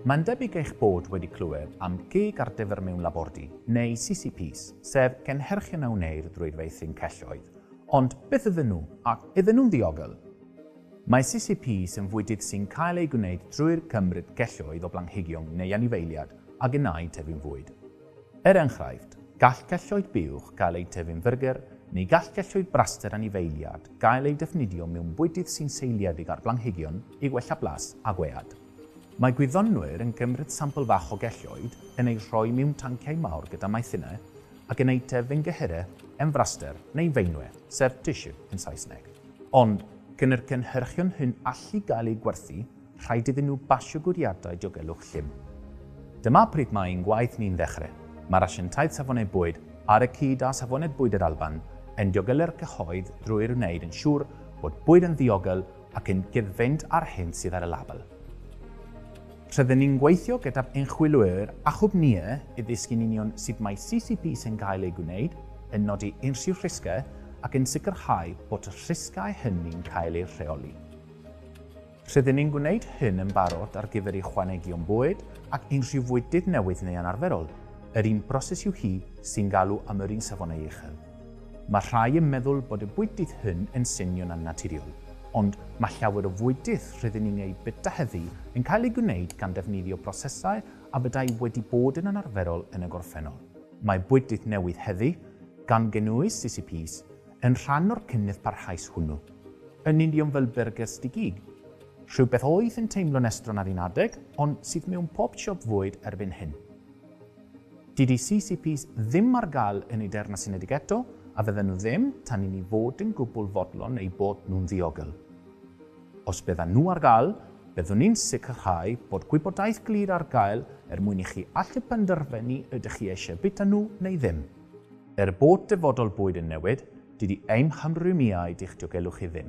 Mae'n debyg eich bod wedi clywed am gig ar dyfer mewn labordy, neu CCPs, sef cynhyrchion a wneir drwy feithrin celloedd. Ond beth ydyn nhw, ac ydyn nhw'n ddiogel? Mae CCPs yn fwydydd sy'n cael eu gwneud drwy'r cymryd celloedd o blanhigion neu anifeiliad a gennau tyfu'n fwyd. Er enghraifft, gall celloedd buwch gael eu tyfu'n fyrgyr, neu gall celloedd braster anifeiliad gael eu defnyddio mewn bwydydd sy'n seiliedig ar blanhigion i wella blas a gwead. Mae gwyddonwyr yn cymryd sampl fach o gelloedd, yn eu rhoi mewn tanciau mawr gyda maethinau, ac yn eu tyfu'n gyhyre, yn fraster neu feinwe, sef tissue yn Saesneg. Ond, gan yr cynhyrchion hyn allu gael eu gwerthu, Rhaid iddyn nhw basio gwiriadau diogelwch llym. Dyma pryd mae ein gwaith ni'n ddechrau. Mae'r Asiantaeth Safonau Bwyd, ar y cyd â Safonau Bwyd yr Alban, yn diogelu'r cyhoedd drwy wneud yn siŵr bod bwyd yn ddiogel ac yn cyd-fynd â'r hyn sydd ar y label. Rydyn ni'n gweithio gyda'r ymchwilwyr a chwmnïau i ddysgu'n union sut mae CCP sy'n cael ei gwneud yn nodi unrhyw risgau ac yn sicrhau bod y rhisgau hynny'n cael eu rheoli. Rydyn ni'n gwneud hyn yn barod ar gyfer ychwanegion bwyd ac unrhyw fwydydd newydd neu anarferol, yr un broses yw hi sy'n galw am yr un safonau uchel. Mae rhai yn meddwl bod y bwydydd hyn yn swnio'n annaturiol, ond mae llawer o fwydydd rydyn ni'n eu bwyta heddiw yn cael eu gwneud gan ddefnyddio prosesau a fyddai wedi bod yn anarferol yn y gorffennol. Mae bwydydd newydd heddiw, gan gynnwys CCPs, Yn rhan o'r cynnydd parhaus hwnnw, yn union fel byrgyrs di-gig, rhywbeth oedd yn teimlo'n estron ar un adeg, ond sydd mewn pob siop fwyd erbyn hyn. Dydy CCPs ddim ar gael yn y Deyrnas Unedig eto, a fydden nhw ddim tan i ni fod yn gwbl fodlon eu bod nhw'n ddiogel. Os byddan nhw ar gael, byddwn ni'n sicrhau bod gwybodaeth glir ar gael er mwyn i chi allu penderfynu ydych chi eisiau bwyta nhw neu ddim. Er bod dyfodol bwyd yn newid, dydy ein hymrwymiaid i'ch diogelwch chi ddim.